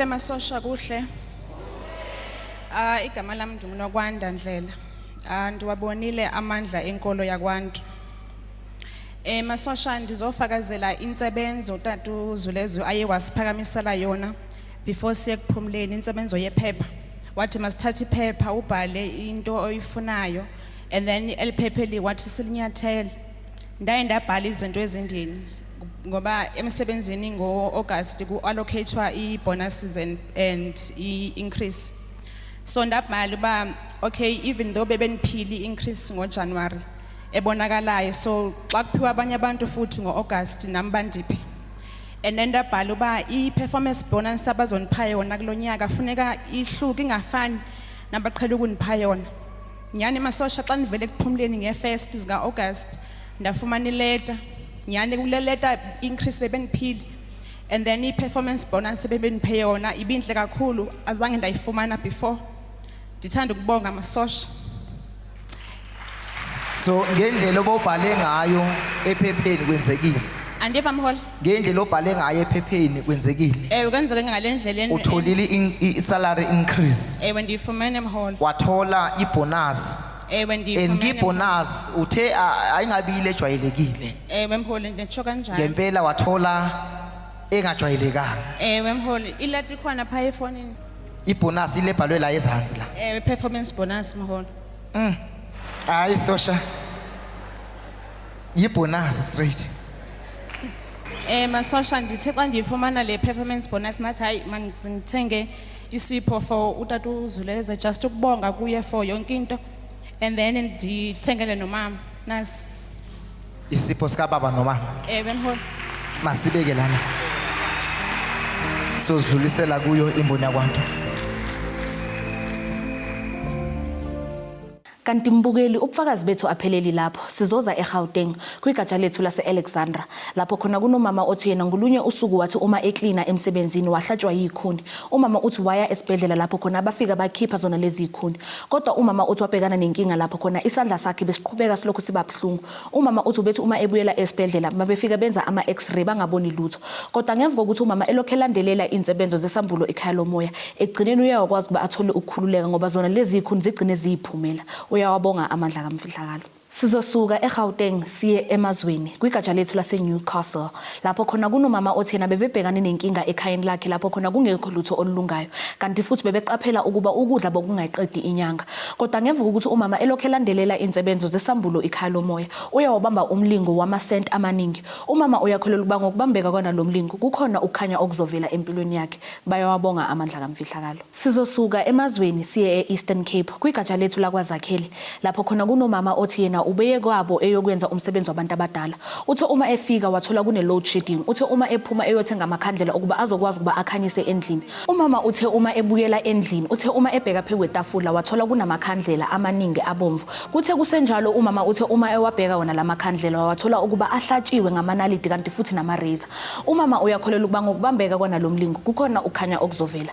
kuhle masosha kuhle ah igama lami ndingunokwanda ndlela ah ndiwabonile amandla enkolo yakwantu Eh masosha ndizofakazela insebenzo tatu Zulezu aye wasiphakamisela yona before siye kuphumleni insebenzo yephepha wathi masithathe iphepha ubhale into oyifunayo and then eliphephe li wathi silinyathele ndaye ndabhala izinto ezimbini ngoba emsebenzini ngo-august ku-allocatwa i-bonuses and, and i-increase so ndabhala uba okay even though bebeniphile i-increase ngojanuwari ebonakalayo so xa kuphiwa abanye abantu futhi ngo-august nami bandiphi and then ndabhala uba i-performance bonus abazonipha yona kulo nyaka funeka ihluke ingafani nabaqhela ukunipha yona nyhani masosha xa ndivele ekuphumleni ngefest zika-august ndafumana ileta nyhani kule leta increase bebendiphile and then i-performance bonus ebebendiphe yona ibintle kakhulu azange ndayifumana before ndithanda ukubonga amasosha so ngendlela obobhale ngayo ephepheni kwenzekile andiva mholi ngendlela obhale ngayo ephepheni kwenzekile ewe kwenzeke ngale ndlela en- utholile in- i- i-salary increase ewe ndiyifumene mholi wathola ibhonasi ewe and ndiyifumene kibhonasi uthe a- ayingabile ejwayelekile ewe mholi nditsho kanjani ngempela wathola engajwayelekanga ewe mholi ilati ikhona phaya efonini ibonus ile bhalwe la ezansi la Eh performance bonus mholo. Mm. hayi sosha yibonasi straight Eh masosha ndithe xa ndiyifumana le performance bonus nathi hayi man ngithenge isipho for utata uzuleza just ukubonga kuye for yonke into and then ndithengele nomama nasi Isipho sika baba nomama. Eh bemholi. Masibeke lana. Sozidlulisela kuyo imboni yakwantu. Kanti mbukeli ubufakazi bethu apheleli lapho sizoza eGauteng kwigatsha lethu lase-Alexandra lapho khona kunomama othi yena ngolunye usuku wathi uma eklina emsebenzini wahlatshwa yikhuni. Umama uthi waya esibhedlela lapho khona abafika bakhipha zona lezi yikhuni. Kodwa umama uthi wabhekana nenkinga lapho khona isandla sakhe besiqhubeka silokhu siba Buhlungu. Umama uthi ubethi uma ebuyela esibhedlela mabefika benza ama X-ray bangaboni lutho. Kodwa ngemva kokuthi umama elokhu elandelela izinsebenzo zesambulo ekhaya lomoya, ekugcineni uye wakwazi ukuba athole ukukhululeka ngoba zona lezi zikhuni zigcine ziyiphumela. Uyawabonga amandla kamfihlakalo. Sizosuka eGauteng siye emazweni, kwigatsha lethu laseNewcastle. lapho khona kunomama othi yena bebebhekane nenkinga ekhayeni lakhe lapho khona kungekho lutho olulungayo kanti futhi bebeqaphela ukuba ukudla bokungayiqedi inyanga kodwa ngemva kokuthi umama elokhu elandelela insebenzo zesambulo ikhaya lomoya uye wabamba umlingo wamasenti amaningi umama uyakholelwa ukuba ngokubambeka kwanalomlingo kukhona ukukhanya okuzovela empilweni yakhe bayawabonga amandla kamfihlakalo Sizosuka emazweni siye e-Eastern Cape kwigatsha lethu lakwaZakhele lapho khona kunomama othi yena ubeye kwabo eyokwenza umsebenzi wabantu abadala. Uthe uma efika wathola kune-load shedding. Uthe uma ephuma eyothenga amakhandlela ukuba azokwazi ukuba akhanyise endlini. Umama uthe uma ebuyela endlini uthe uma ebheka pheku kwetafula wathola kunamakhandlela amaningi abomvu. Kuthe kusenjalo umama uthe uma ewabheka wona la makhandlela wawathola ukuba ahlatshiwe ngamanaliti kanti futhi nama-razor. Umama uyakholelwa ukuba ngokubambeka kwanalo mlingo kukhona ukukhanya okuzovela.